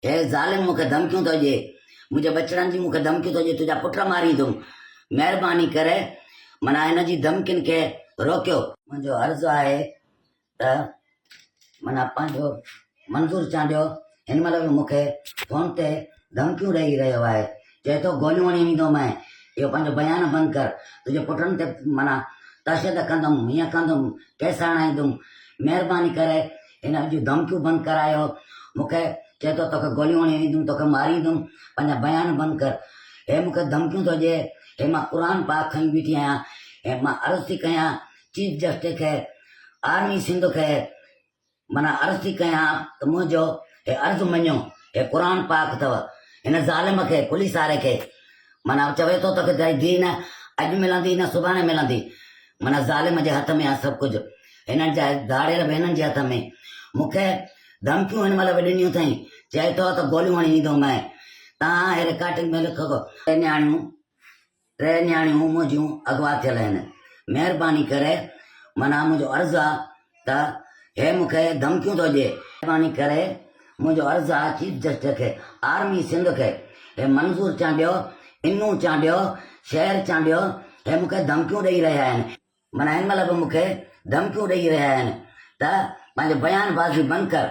هيء ظالم مون کي ڌمڪيون ٿو ڏئي. منهنجي ٻچڙن جي مون کي ڌمڪيون ٿو ڏئي، تنهنجا پٽ ماريندوم. مهرباني ڪري منان هن جي ڌمڪين کي روڪيو. منهنجو عرض آهي ته منان پنهنجو منظور چانڊيو هن مهل به مون کي فون تي ڌمڪيون ڏئي رهيو آهي. چئي ٿو گوليون هڻي ويندومئن. اهو پنهنجو بيان بند ڪر. تنهنجي پٽن تي منان تشدد ڪندوم، هيئن ڪندوم، ڪيس هڻائيندوم. مهرباني ڪري هن اڄ ڌمڪيون بند ڪرايو مون کي چئي ٿو توکي گوليون هڻي ويندم توکي ماريندم پنهنجا بيان بند ڪر هي مون کي ڌمڪيون ٿو ڏي هي مان قرآن پاڪ کڻي بيٺي آهيان هي مان عرض ٿي ڪيان چيف جسٽس کي آرمي سنڌ کي منا عرض ٿي ڪيان ته منهنجو هي عرض مڃو هي قرآن پاڪ اٿو هن ظالم کي پوليس واري کي منا چوي ٿو توکي دين اڄ ملندي نه سڀاڻي ملندي معنيٰ ظالم جي هٿ ۾ آهي سڀ ڪجهه، هنن جي ڌاڙيل به هنن جي هٿ ۾، مون کي ڌمڪيون هن مهل به ڏنيون اٿئين، چئي ٿو ته گوليون هڻي ويندومانء، توهان اهي رڪارڊنگ ۾ لکو ته ٽي نياڻيون ٽي نياڻيون منهنجيون اغوا ٿيل آهن، مهرباني ڪري معنيٰ منهنجو عرض آهي ته هي مون کي ڌمڪيون ٿو ڏي. مهرباني ڪري منهنجو عرض آ چيف جسٽس کي آرمي سنڌ کي هي منظور چانڊيو انون چانڊيو شير چانڊيو هي مون کي ڌمڪيون ڏئي رهيا آهن معنيٰ هن مهل به مون کي ڌمڪيون ڏئي رهيا آهن ته پنهنجو بيان بازي بند ڪر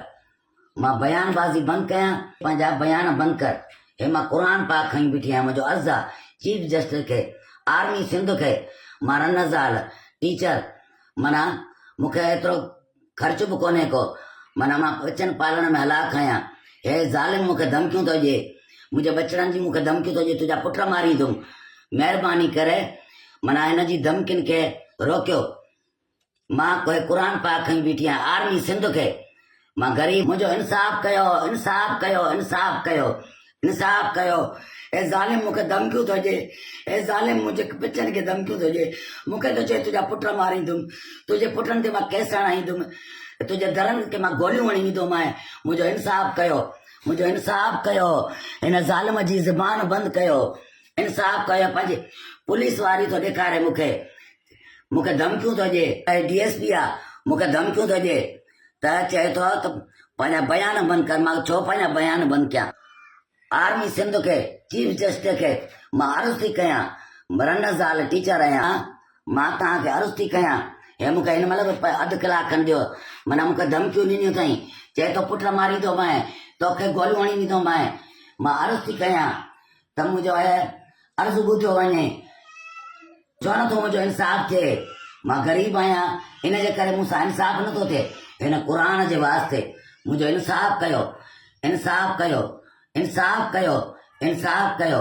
مان بيان بازي بند ڪيان پنهنجا بيان بند ڪر هي مان قرآن پاڪ کڻي بيٺي آهيان منهنجو عرض آ چيف جسٽس کي آرمي سنڌ کي مان رنه زال ٽيچر معنيٰ مون کي ايترو خرچ به ڪونهي ڪو معنيٰ مان ٻچن پالڻ ۾ هلاڪ آهيان هي ظالم مون کي ڌمڪيون ٿو ڏي منهنجي ٻچڙن جي مون کي ڌمڪيون ٿو ڏي تنهنجا پٽ ماريندم مهرباني ڪري معنيٰ هن جي ڌمڪين کي روڪيو. مان ڪوهي قرآن پاڪ کڻي بيٺي آهيان آرمي سنڌ کي مان غريب منهنجو انصاف ڪيو انصاف ڪيو انصاف ڪيو انصاف ڪيو اي ظالم مونکي ڌمڪيون ٿو ڏي اي ظالم منهنجي پچن کي ڌمڪيون ٿو ڏي مونکي ٿو چئي تنهنجا پٽ ماريندم تنهنجي پٽن تي مان ڪيس هڻائيندم تنهنجي درن کي مان گوليون هڻي ويندومانء منهنجو انصاف ڪيو منهنجو انصاف ڪيو هن ظالم جي زبان بند ڪيو انصاف ڪيو پنهنجي پوليس واري ٿو ڏيکاري مونکي مون کي ڌمڪيون ٿو ڏي ته هي ڊي ايس پي آ مون کي ڌمڪيون ٿو ڏي ته چئي ٿو ته پنهنجا بيان بند ڪر مان ڇو پنهنجا بيان بند ڪيان آرمي سنڌ کي چيف جسٽس کي مان عرض ٿي ڪيان مرن زال ٽيچر آهيان مان توهان کي عرض ٿي ڪيان هي مون کي هن مهل به اڌ ڪلاڪ کن ڏيو منا مون کي ڌمڪيون ڏنيون اٿائين چئي ٿو پٽ ماريندومانء توکي گوليون هڻي ڏيندومانء مان عرض ٿي ڪيان ته منهنجو هيء عرض ٻڌو وڃي. ڇو نه ٿو منهنجو انصاف ٿئي؟ مان غريب آهيان، ان جي ڪري مون سان انصاف نه ٿو ٿئي. هن قرآن جي واسطي منهنجو انصاف ڪيو. انصاف ڪيو. انصاف ڪيو. انصاف ڪيو.